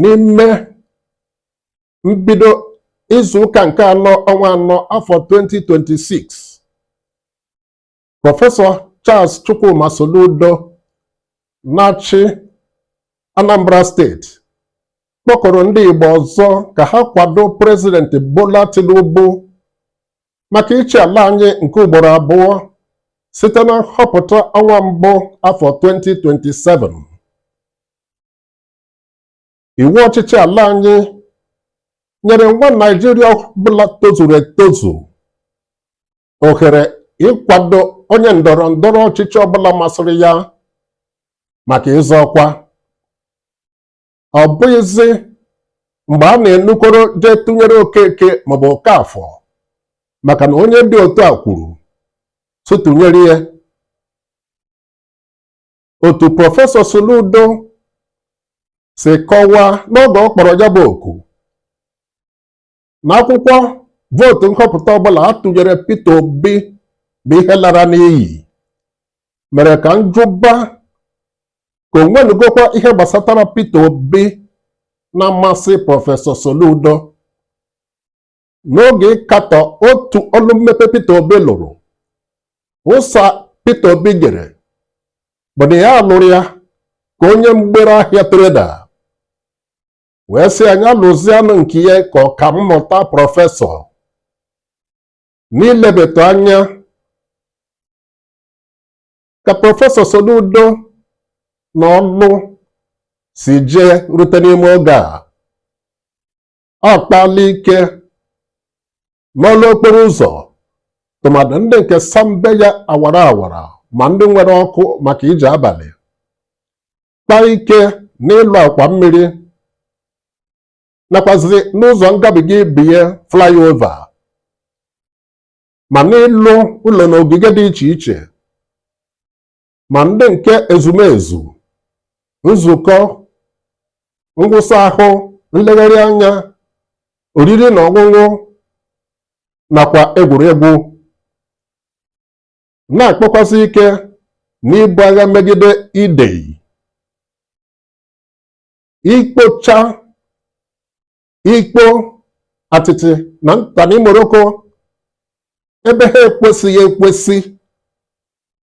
n'ime mbido izu ụka nke anọ ọnwa anọ afọ 2026 prọfesọ Charles Chukwuma Soludo na-achị Anambra steeti kpọkuru ndị Igbo ọzọ ka ha kwado prezidenti Bola Tinubu maka ịchị ala anyị nke ugboro abụọ site na nhọpụta ọnwa mbụ afọ 2027 iwu ọchịchị ala anyị nyere nwa Naijiria ọbụla tozuru etozu ohere ịkwado onye ndọrọ ndọrọ ọchịchị ọbụla masịrị ya maka ịzọ ọkwa ọ bụghịzi mgbe a na-enukọrọ jee tụnyere Okeke maọbụ Okeafọ maka na onye dị otu a kwuru sị tụnyere ya otu prọfesọ Soludo si kọwaa n'oge ọ kpọrọ ya bụ oku na akwụkwọ vootu nhọpụta ọbụla a tụnyere Peter Obi bụ ihe lara n'iyi mere ka m jụba ka o nwenụgokwa ihe gbasatara Peter Obi na-amasị prọfesọ Soludo n'oge ịkatọ otu ọlụ mmepe Peter Obi lụrụ ụsa Peter Obi nyere bụ na ya lụrụ ya ka onye mgbere ahịa treda wee sị ya lụzianụ nke ya ka ọka mmụta prọfesọ n'ilebatụ anya ka prọfesọ Soludo na ọlụ si jee rute n'ime oge a akpala ike n'ọlụ okporo ụzọ tụmadụ ndị nke sambe ya awara awara ma ndị nwere ọkụ maka ije abalị kpaa ike n'ịlụ akwa mmiri nakwazi n'ụzọ ngabiga ibe ya flyover ma n'ịlụ ụlọ na ogige dị iche iche ma ndị nke ezumezu nzukọ ngwụsa ahụ nlegharị anya oriri na ọṅụṅụ nakwa egwuregwu na-akpakwazị ike n'ibu agha megide idei ikpocha ikpo atịtị na ntani moroko ebe ha ekwesịghị ekwesị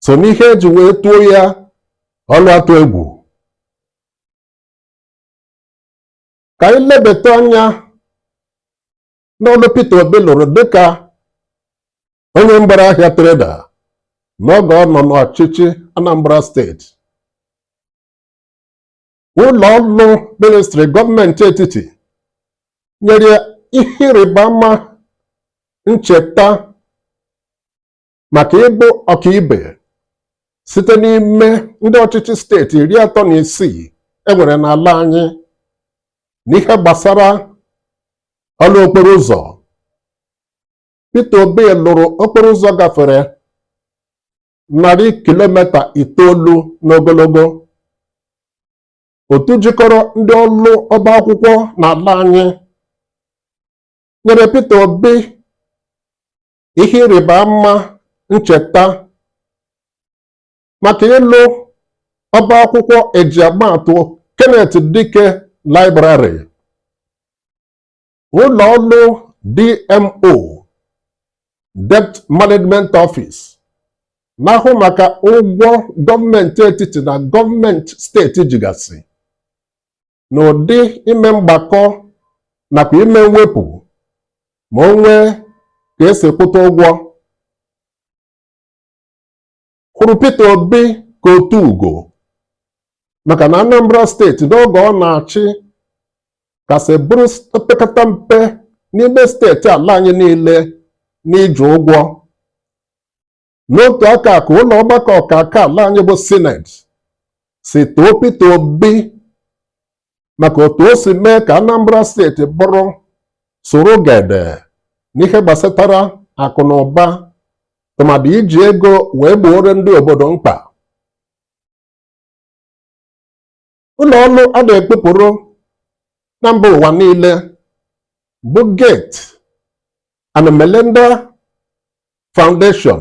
so n'ihe e ji wee tuo ya ọlụ atụ egwu ka anyị lebata anya n'ọlụ Peter Obi lụrụ dịka onye mgbere ahịa treda n'oge ọ nọ n'ọchịchị Anambra steeti ụlọ ọrụ ministri gọọmenti etiti nyere ihe ịrịba ama ncheta maka ịbụ ọkaibe site n'ime ndị ọchịchị steeti iri atọ na isii enwere n'ala anyị n'ihe gbasara ọrụ okporo ụzọ Peter Obi lụrụ okporo ụzọ gafere narị kilomita itoolu n'ogologo otu jikọrọ ndị ọrụ ọba akwụkwọ n'ala anyị nyere Peter Obi ihe ịrịba ama ncheta maka ịlụ ọba akwụkwọ eji ama atụ Kenneth Dike Library ụlọ ọrụ DMO Debt Management Office na-ahụ maka ụgwọ gọọmenti etiti na gọọmenti steeti jigasị n'ụdị ime mgbakọ nakwa ime mwepụ ma o nwee ka esi kwụta ụgwọ hụrụ Peter Obi ka otu ugo maka na Anambra steeti n'oge ọ na-achị kasị bụrụ opekata mpe n'ime steeti ala anyị niile n'iji ụgwọ n'otu aka ahụ ka ụlọ ọgbakọ ọkaka ala anyị bụ sineti si too Peter Obi maka otu o si mee ka Anambra steeti bụrụ soro gede n'ihe gbasatara akụ na ụba tụmadị iji ego wee gbooro ndị obodo mkpa ụlọ ọrụ a na-ekpupụrụ na mba ụwa niile bụ Gates and Melinda Foundation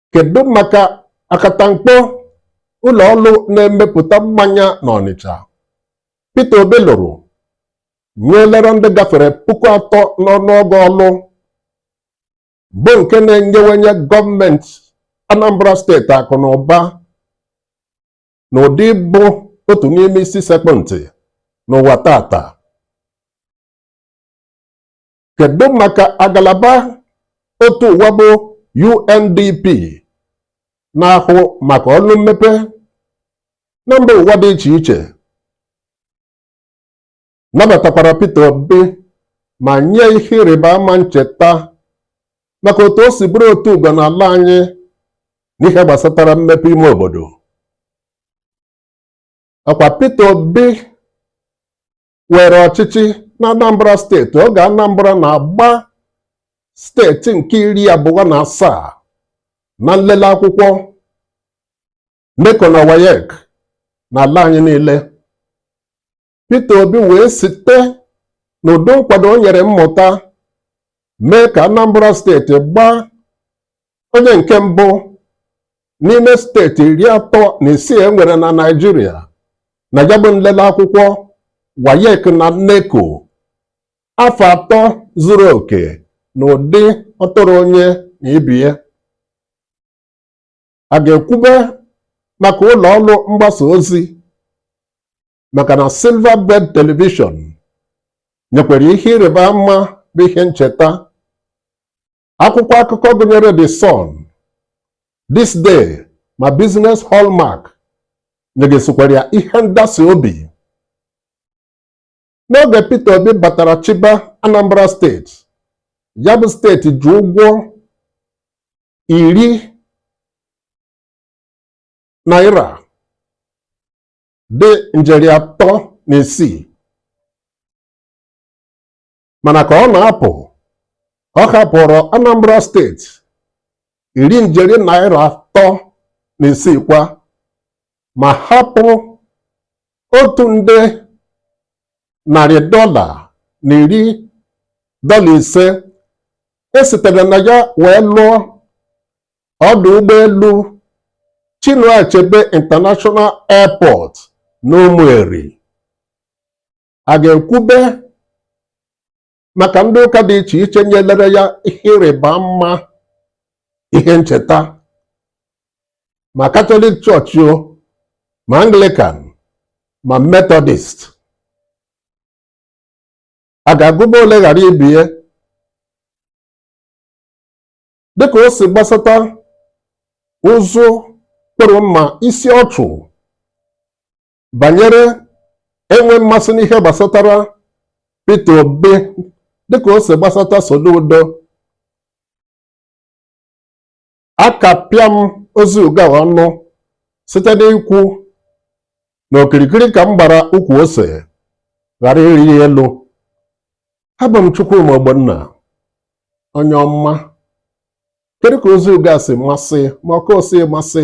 kedu maka akatamkpo ụlọ ọrụ na-emepụta mmanya n'Ọnịcha Peter Obi lụrụ nyelere ndị gafere puku atọ n'ọnụọgụ ọrụ bụ nke na-enyewenye gọọmenti Anambra steeti akụ na ụba na ụdị bụ otu n'ime isi sekpụ ntị n'ụwa taata kedu maka agalaba otu ụwa bụ UNDP na-ahụ maka ọrụ mmepe na mba ụwa dị iche iche nabatakwara Peter Obi ma nye ya ihe ịrịba ama ncheta maka otu o si bụrụ otu ugo n'ala anyị n'ihe gbasatara mmepe ime obodo ọkwa Peter Obi weere ọchịchị na Anambra steeti oge Anambra na-agba steeti nke iri abụọ na asaa na nlele akwụkwọ NECO na WAEC n'ala anyị niile Peter Obi wee site n'ụdị nkwado o nyere mmụta mee ka Anambra steeti gbaa onye nke mbụ n'ime steeti iri atọ na isii e nwere na Naịjirịa na ya bụ nlele akwụkwọ WAEC na NECO afọ atọ zuru oke na ụdị ọ tụrụ onye na ibie a ga-ekwube maka ụlọ ọrụ mgbasa ozi maka na Silverbird Television nyekwara ihe ịrịba ama bụ ihe ncheta Akwụkwọ akụkọ gụnyere The Sun, This Day ma Business Hallmark nyegasịkwara ya ihe ndasi obi. N'oge Peter Obi batara chịba Anambra steeti, ya bụ steeti ji ụgwọ iri naira dị njeri atọ na isii mana ka ọ na-apụ ọ hapụrụ Anambra steeti iri njeri naira atọ na isii kwa ma hapụ otu nde narị dọla na iri dọla ise e sitere na ya wee lụọ ọdụ ụgbọelu Chinua Achebe International Airport n'Ụmụeri a ga-ekwube maka ndị ụka dị iche iche nyelere ya ihe ịrịba ama ihe ncheta ma katọlik chọọchị o ma anglikan ma metọdist a ga-agụba ole ghara ibie dịka o si gbasata ụzụ kpụrụ mma isi ọchụ banyere enwe mmasị n'ihe gbasatara Peter Obi dịka o si gbasata Soludo akapịa m ozi uga ọnụ site n'ikwu na okirikiri ka m gbara ukwu ose ghara ịrị ya elu abụ m Chukwuma Ogbonna onye ọma kedu ka ozi uga si masị ma ọ ka o si masị